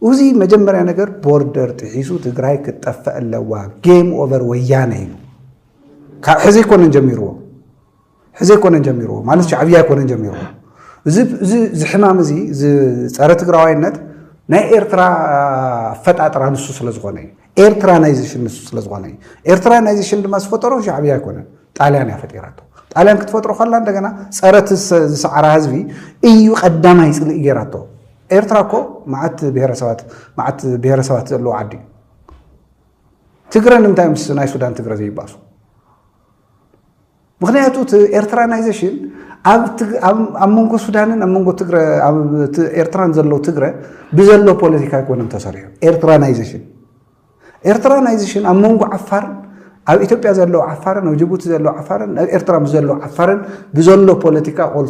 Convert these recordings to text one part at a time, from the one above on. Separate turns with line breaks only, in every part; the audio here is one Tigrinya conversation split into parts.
እዚ መጀመርያ ነገር ቦርደር ጥሒሱ ትግራይ ክትጠፍእ ኣለዋ ጌም ኦቨር ወያነ እዩ ካብ ሕዚ ኣይኮነን ጀሚርዎ ሕዚ ኣይኮነን ጀሚርዎ ማለት ሻዕብያ ኣይኮነን ጀሚርዎ እዚ ዝሕማም እዚ ዝፀረ ትግራዋይነት ናይ ኤርትራ ኣፈጣጥራ ንሱ ስለ ዝኾነ እዩ ኤርትራናይዜሽን ንሱ ስለ ዝኾነ እዩ። ኤርትራናይዜሽን ድማ ዝፈጠሮ ሻዕብያ ኣይኮነን፣ ጣልያን እያ ፈጢራቶ። ጣልያን ክትፈጥሮ ከላ እንደገና ፀረት ዝሰዓራ ህዝቢ እዩ ቀዳማይ ፅልኢ ገይራቶ። ኤርትራ እኮ መዓት ብሄረሰባት መዓት ብሄረሰባት ዘለዎ ዓዲ እዩ። ትግረ ንምንታይ ምስ ናይ ሱዳን ትግረ ዘይባሱ? ምክንያቱ እቲ ኤርትራናይዜሽን ኣብ መንጎ ሱዳንን ኣብ መንጎ ኤርትራን ዘለው ትግረ ብዘሎ ፖለቲካ ኣይኮነን ተሰሪሑ ኤርትራናይዜሽን ኤርትራናይዜሽን ኣብ መንጎ ዓፋር ኣብ ኢትዮጵያ ዘለው ዓፋርን ኣብ ጅቡቲ ዘለው ዓፋርን ኣብ ኤርትራ ምስ ዘለው ዓፋርን ብዘሎ ፖለቲካ ኦል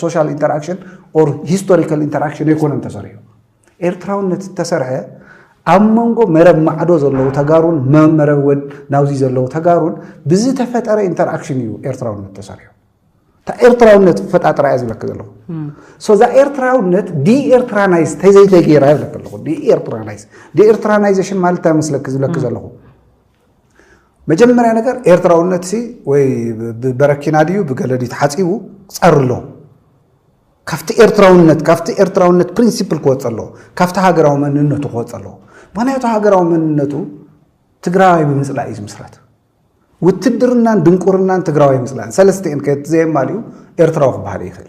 ሶሻል ኢንተራክሽን ኦር ሂስቶሪካል ኢንተራክሽን ኣይኮነን ተሰሪሑ ኤርትራውነት ዝተሰርሐ ኣብ መንጎ መረብ ማዕዶ ዘለዉ ተጋሩን መረብ ወን ናብዚ ዘለዉ ተጋሩን ብዝተፈጠረ ኢንተርኣክሽን እዩ ኤርትራውነት ተሰሪሑ እታ ኤርትራውነት ፈጣጥራ እያ ዝብለክ ዘለኹ ሶ እዛ ኤርትራውነት ዲኤርትራናይዝ ተዘይተገይራ ይብለክ ኣለኹ ዲኤርትራናይዝ ዲኤርትራናይዜሽን ማለት እንታይ መስለክ ዝብለክ ዘለኹ መጀመርያ ነገር ኤርትራውነት ሲ ወይ ብበረኪና ድዩ ብገለ ድዩ ተሓፂቡ ፀሪ ኣለዎ ካብቲ ኤርትራውነት ካብቲ ኤርትራውነት ፕሪንሲፕል ክወጽእ ኣለዎ ካብቲ ሃገራዊ መንነቱ ክወጽእ ኣለዎ ምክንያቱ ሃገራዊ መንነቱ ትግራዋይ ብምጽላእ እዩ ዝምስረት ውትድርናን ድንቁርናን ትግራዋይ ምጽላእን ሰለስቲኤን ከየት ዘየማልኡ ኤርትራዊ ክበሃል ይኽእል